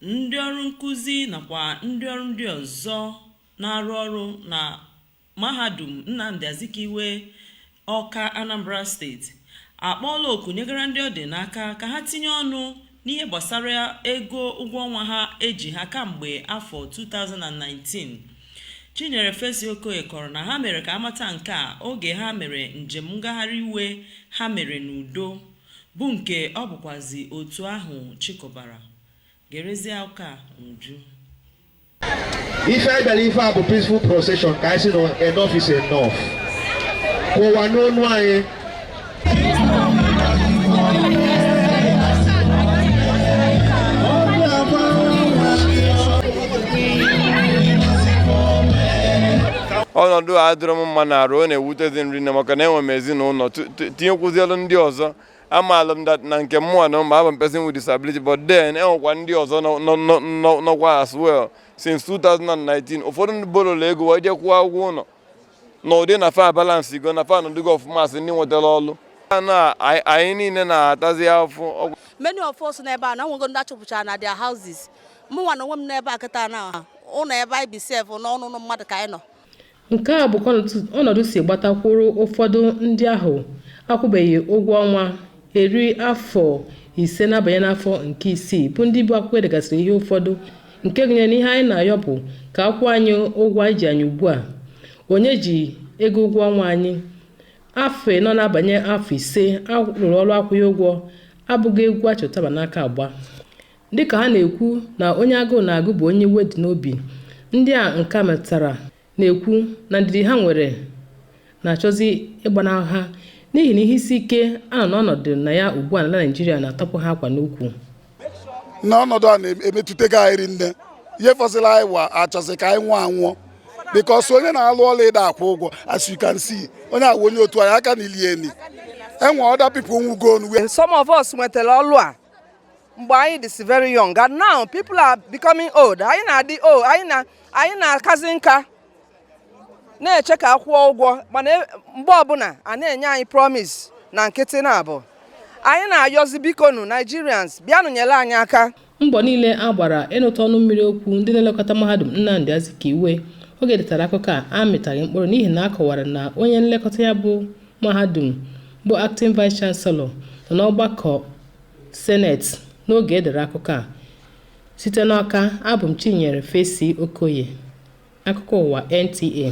ndị ọrụ nkụzi nakwa ndị ọrụ ndị ọzọ na-arụ ọrụ na mahadum nnamdi azikiwe ọka anambra steeti akpọọla oku nyegara ndị ọ dị n'aka ka ha tinye ọnụ n'ihe gbasara ego ụgwọ ọnwa ha e ji ha kamgbe afọ 2019 chinyere fesi okoye kọrọ na ha mere ka a mata nke a oge ha mere njem ngagharị iwe ha mere n'udo bụ nke ọ bụkwazi otu ahụ chịkọbara gerezie akụkọ a n'uju ife anyị bịara ife a bụ peaceful procession ka anyị sị na enough is enough ka ụwa nụ onu anyị ọnọdụ a adịrọ m mma n'arụ ọ na-ewutezi m rinne maka na enwe m ezinụlọ tu- tinyekwuzielu ndị ọzọ amaala m na nke mụnwa na m bụ a person with disability but then enwekwa ndị ọzọ nọkwa as well since 2019 ụfọdụ ndị borola ego wee je kwụọ ụgwọ ụlọ na ụdị na fa balance go na fa nọdụgo ọfụma as ndị nwetara ọlụ na anyị niile na-atazi afụfụ many of us n'ebe a na nwego ndị a chụpụchara na their houses mụnwa na onwe m n'ebe a kịta na ụlọ ebe anyị bi sef na ọ n'ụnọ mmadụ ka anyị nọ Nke a bụ ka ọnọdụ si gbatakwuru ụfọdụ ndị ahụ akwụbeghị ụgwọ ọnwa eri afọ ise na-abanye n'afọ nke isii bụ ndị bu akwụkwọ e degasịrị ihe ụfọdụ nke gụnyere na ihe anyị na-ayọ bụ ka a kwụọ anyị ụgwọ e ji anyị ugbu a onye ji ego ụgwọ ọnwa anyị afọ anọ na-abanye afọ ise a rụrụ ọrụ akwụghị ụgwọ abụghị egwu a chị ụtaba n'aka agba Dịka ha na-ekwu na onye agụụ na-agụ bụ onye iwe dị n'obi, ndị a nke a metụtara na-ekwu na ndidi ha nwere na-achọzi ịgbanahụ ha n'ihi na ihe isi ike a nọ n'ọnọdụ na ya ugbu a n'ala Naịjirịa na-atọpụ ha akwa n'ukwu. na ọnọdụ a na-emetụtago anyị rinne ihe fọsịrị anyị wa a chọzi ka anyị nwụọ anwụọ because onye na-alụ ọlụ a da akwụ ụgwọ as you can see onye a wụ onye otu anyị a ka na-eli eni enwe other people nwụgo ọnwụ And some of us nwetara ọlụ a mgbe anyị dịsị very young and now people are becoming old anyị na-adị old anyị na-akazi nka na-eche ka a kwụọ ụgwọ mana e, mgbe ọbụla a na-enye anyị promise na nkịtị na-abụ anyị na-ayọzi bikonu Nigerians bịanụ nyere anyị aka mbọ niile a gbara ịnụta ọnụ mmiri okwu ndị na-elekọta mahadum Nnamdi Azikiwe oge e detara akụkọ a amịtaghị mkpụrụ n'ihi na a kọwara na onye nlekọta ya bụ mahadum bụ acting vice chancellor nọ n'ọgbakọ Senate n'oge e dere akụkọ a. Site n'Ọka, abụ m Chinyere Fesi Okoye. Akụkọ ụwa NTA.